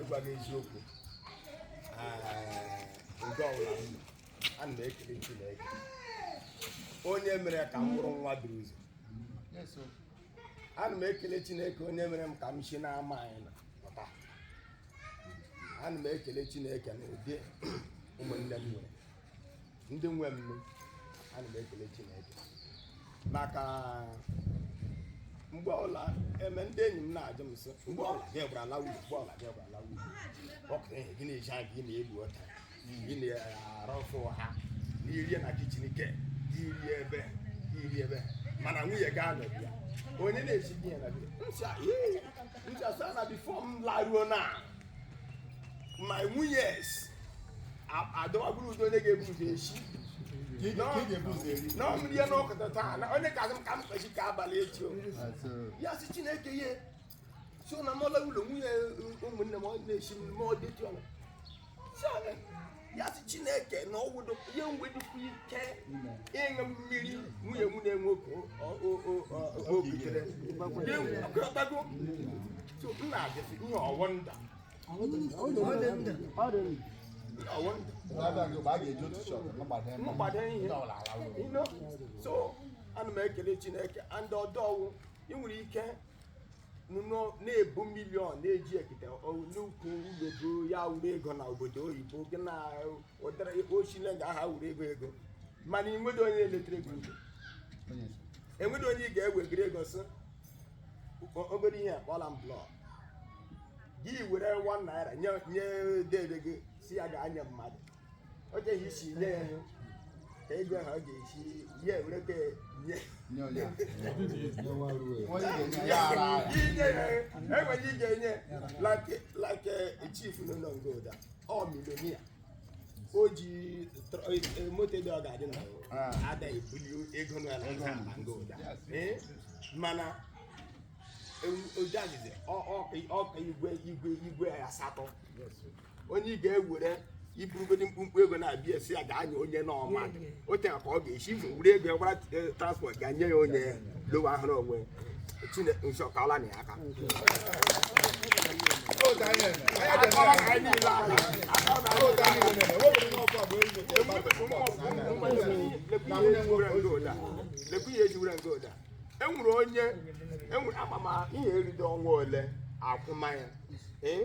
ịgwa gị eziokwu oge ọbụla m nọ, ana m ekele Chineke onye mere ka m bụrụ nwa duru ụzọ ana m ekele Chineke onye mere ka m si n'ama anyị nọ pụta ana m ekele Chineke na ụdị ụmụnne m nwere ndị nwe m ana m ekele Chineke maka mgbe ọla eme ndị enyi m na-ajụ m sị mgbe ọla gị gwara ala uru mgbe ọla gị gwara ala uru ọkụ ihe gị na-eji anya gị na-egbu ọta gị na-arọfụ ha n'irie na kichin ke iri ebe iri ebe mana nwunye gị anọghị ya onye na-esi gị ya na bịa nsị a nsị a sị na bifo m laruo na ma nwunye adọwagburu udo onye ga-ebu ụzọ esi na ọmụrụ ya n'ọkụ taa na onye ka m ka m kpechi ka abalị echi o ya sị chineke ihe so na mọla ụlọ nwunye ụmụnne m ọ na-esi m ma ọ dị tụọ ya sị chineke na ọ wụdo ihe nwedịkwa ike ịṅụ mmiri nwunye m na-enwe okokere ọkọtago so m na-ajụsị ihe ọ wụ nda mgbada ihe so ana m ekele chineke and ọdọ wụ ị nwere ike nọ na-ebu miliọn na-eji ekete n'ukwu ụlọbu ya wụrụ ego na obodo oyibo gị na ụdara ochile nga aha wụrụ ego ego mana enweghị onye eletere gị ego enweghị onye ị ga-ewegara ego sị obere ihe a kpụọra m blọk gị were 1 naira nye dede gị sị ya gaa nye mmadụ ọ dịghị isi nye ya ka ego ha ọ ga-esi ya ewereta nye enwere ị ga-enye like chief nọ na ngoda ọ miliọnia o ji moto dị ọ ga-adị na ada ebuli ego na ngoda mana ojazize ọka igwe igwe igwe asatọ onye ị ga-ewere iburugodi mkpumkpu ego na-abịa asị ya gaa nye onye n'ọma o tere aka ọ ga-esi ife were ego ya gbara eh, transport gaa nye ya onye lọwa ahụrụ onwe Chineke nsọ ka ọla na ya aka lekwu ihe ejiwere ngoda enwere onye enwere amamihe eride ọnwa ole akwụma ya ee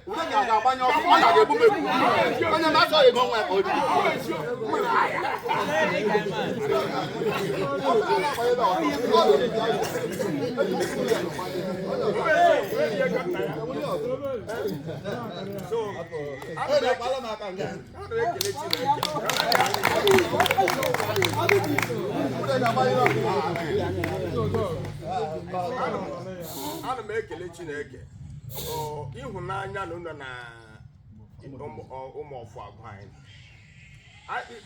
ana m ekele chineke ịhụnanya na ụlọ na ụmụ ọfụ agwa anyị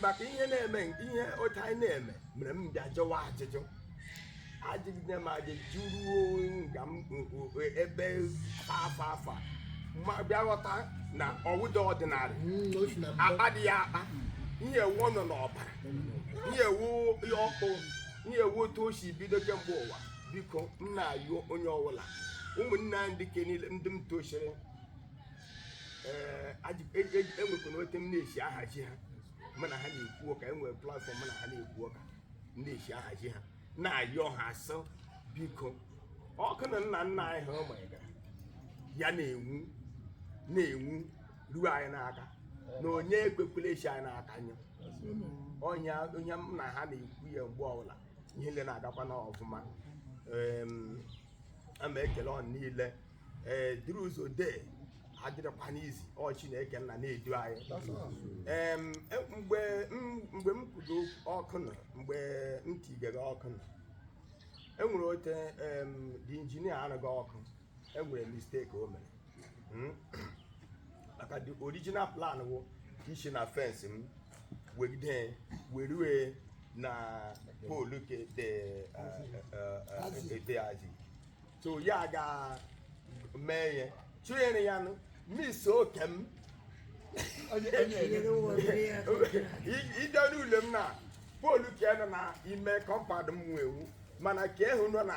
maka ihe na-eme ihe otu anyị na-eme mere m bịa jụwa ajụjụ ajụgide m ajụjụ ruo nga m ebe afa afa ma bịa ghọta na ọ wụdị ọdịnala hmm, akpa dị ya akpa ihe a wụ ọ nọ n'ọbara ihe a wụ ọkụ ihe a wụ otu o si bido kemgbe ụwa biko m na-ayọ onye ọbụla ụmụnna ndị ke niile ndị m tọsịrị enwekwana ote m na-esi ahazi ha mụ na ha na-ekwu ụka enwere platform mụ na ha na-ekwu ụka m na-esi ahazi ha na-ayọ ha sị biko ọkụ na nna nna anyị ha mụgara ya na-enwu na-enwu ruo anyị n'aka na onye ekwekwele o si anyị n'aka nyụọ onye m na ha na-ekwu ya mgbe ọbụla ihe niile na-agakwa na ọfụma a ma ekele ọnụ niile ee dịrị ụzọ dee adịrịkwa n'izi ọ Chineke nna na-edu anyị ee mgbe mgbe m kwudo ọkụ nụ mgbe m tigere ọkụ nụ enwere ote the engineer arụga ọkụ enwere mistake o mere hmm? maka the original plan wụ isi na fence m wegide werue na pole ke dede Azi so ya ga mee ya chụnyere ya nụ mis oke m ije n'ụlọ m na pole ke nọ na ime compound m nwewu mana ka ehu nọ na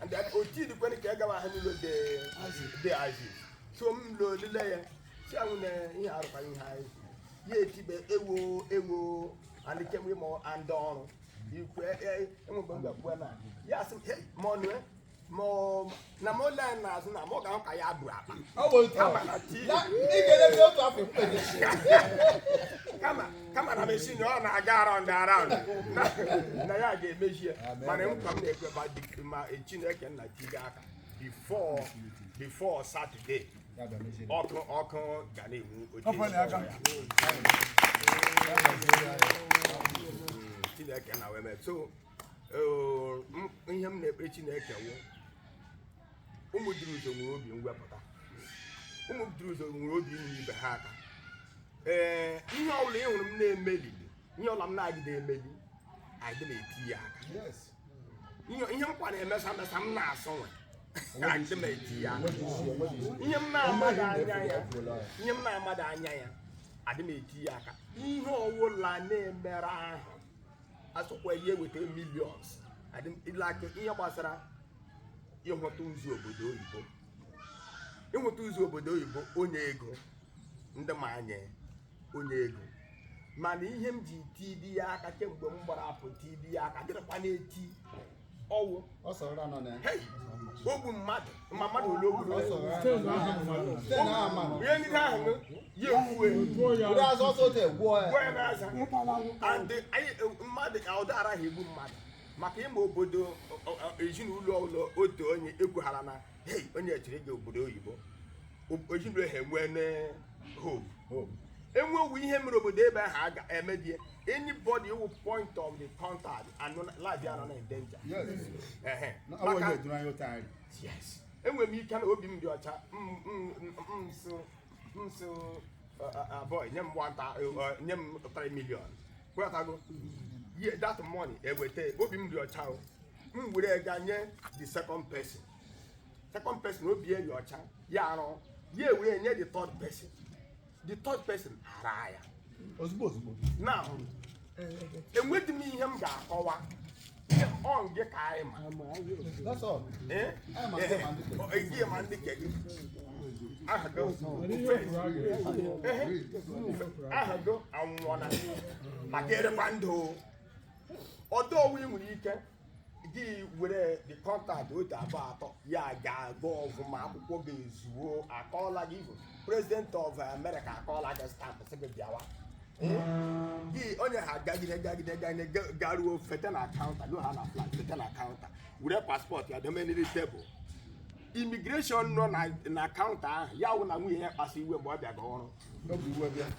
and then oti dịkwana ka ya gawa ha n'ụlọ dede Azi so m lụ olile ya si anwụ na ihe arụkwaghị ihe anyị ya etibe ewo ewo alịkem ịmụ andị ọrụ ikwe enwegbe m gakpuo na ya sị m "Hey, ma ọnụ eh, ma ọ- na ma ole anyị n'azụ na ma ọ ga-ahụ ka ya bụ akpa ọ bụ otu Ama na tii. Ya, ị ga-elezi otu afọ mkpebi kama kama na machine ọ na-aga around around na- na ya ga-emezi ya mana nkwa m na-ekwe ma di- ma chineke nna tige aka before before Saturday ọkụ ọkụ ga na-enwu oche Ọkụ na-aga. ya. chineke nna wee mee so eh, m- ihe m na-ekpe chineke wụ ụmụ duru ụzọ nwere obi mwepụta ụmụ duru ụzọ nwere obi inye ibe ha aka ee ihe ọbụla ị hụrụ m na-emeli ihe ọla m na-agide emeli adị m eti ya aka ihe nkwa na-emesa mesa m na-asọ nwe adị m eti ya aka ihe m na-amadị anya ya ihe m na-amadị anya ya adị m eti ya aka ihe ọwụla na-emere ahụ asụkwa ihe eweta millions adịla aka ihe gbasara ịhụta ụzọ obodo oyibo ịhụta ụzọ obodo oyibo onye ego adị m ana onye ego mana ihe m ji tibi ya aka kemgbe m gbara apụ tibi ya aka dịrịkwa na-eti ọwụ ogbu mmadụ ma mmadụ ole o gburu ihe ndị ahụ ya ekwuwe mmadụ ka ụdị araghị egbu mmadụ maka ịma obodo ezinụlọ ụlọ otu onye egwughara na hei onye chiri gị obodo oyibo ojibere ha enwe hope hope enwewu ihe mere obodo ebe ahụ a ga-emebie anybody who point of the contact and life ya nọ na danger yes enwere m ike na obi m dị ọcha m sị boy nye m 1 nye m 3 million kwetago ye that money eweta obi m dị ọcha m were ga nye the second person second person obi ya dị ọcha ya arụ ya were nye the third person the third person ara ya ozugbo ozugbo na enwedị m ihe m ga-akọwa ọ nke ka anyị ma That's all. Eh? Anyị ma ndị ma ndị kere. Eh, ihe ma ndị ke gị aha gị Ehe. aha gị anwụọla maka erekwa ndụ ọdọ ọwụ ị nwere ike gị were the contact otu abụọ atọ ya ga-agụ ọfụma akwụkwọ gị ezuo akụọla gị even president of america akụọla gị stampụ sị gị bịawa gị onye ha gagide gagide gagide ga- garuo fete na kaụnta no ha na flight fete na kaụnta were paspọtụ ya dome n'elu tebụl imigreshọn nọ na- na kaụnta ahụ ya wụ na nwunye ya kpasu iwe mgbe ọ bịaga ọrụ n'obi iwe bịa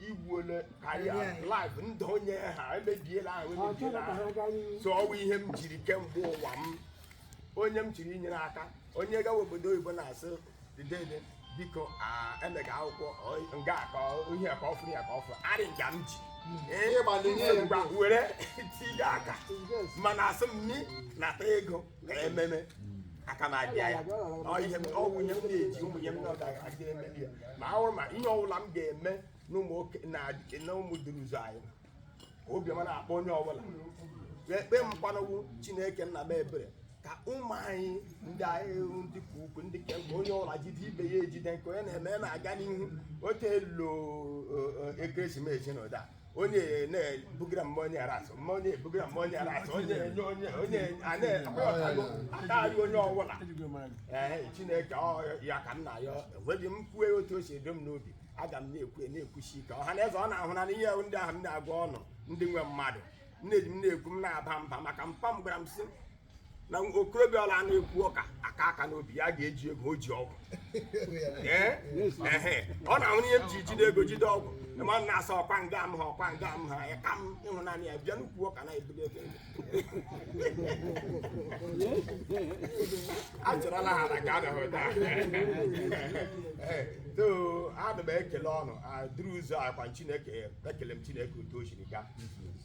i gbuole career life ndụ onye ha emebiela ahụ emebiela ahụ so ọwụ ihe m jiri kemgbe ụwa m onye m chiri inyere aka onye gawa obodo oyibo na-asị dede biko emega akwụkwọ nga ka ihe ka ọfụrụ ya ka ọfụrụ arị nga m ji were tinye aka mana asị m ni nata ego mere ememe aka m abịa ya ọ wụ ihe m na-eji ụmụnne m na-aga eme ya ma ahụrụ ma ihe ọbụla m ga-eme na Ụmụduruụzọ anyị ka obiọma na-akpọ onye ọbụla ekpere m kwanụ wụ chineke nna mee ebere ka ụmụ anyị ndị anyị ndị ka ukwu ndị ka mgbe onye ọbụla jide ibe ya ejide nke onye na-eme ya na-aga n'ihu otu elu ekeresimesi na ụda onye na-ebugara m onye rice onye ebugara m onye rice onye enye onye onye a na-akpọtago ataghị onye ọbụla ee chineke ọ ya ka m na-ayọ enweghị m kwue otu o si edo m n'obi aga m na-ekwu na-ekwusi ike ọha na eze ụnụ ahụna ihe ndị ahụ m na-agwa ụnụ ndị nwe mmadụ nne ji m na-ekwu m na-aba mba maka mpa m gwara m sị na okorobịa ọbụla na-ekwu ụka akụ aka n'obi ya ga-eji ego ji ogu ọ na-ahụ ihe m ji jide ego jide ogu ma m na-asa ọkwa nga m ha ọkwa nga m ha ya ka m ịhụnanya ya bịa n'ukwu ọka na-ebuli ebe achọrọla ha na ka abịahụta so ana m ekele Ụmụduruụzọ akwa chineke ekele m chineke otu o siri gaa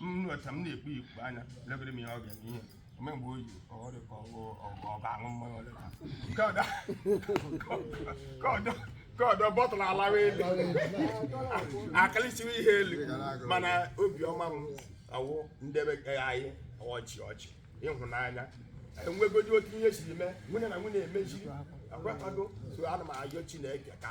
nnọcha m na-ekpu ikpu anya legoro m ihe ọ ga-eme ihe ome mgbe oyi ọrụ ka ọ ga-aṅụ mmanya ole ka nke ọdọ nke ọdọ nke ọdọ bottle alawa elu akalichiwe ihe elu mana obiọma m wụ ndị be anyị ọchị ọchị ịhụnanya enwegodi otu ihe siri mee nwanne na nwanne emeziri akwatago so ana m ayọ chineke ka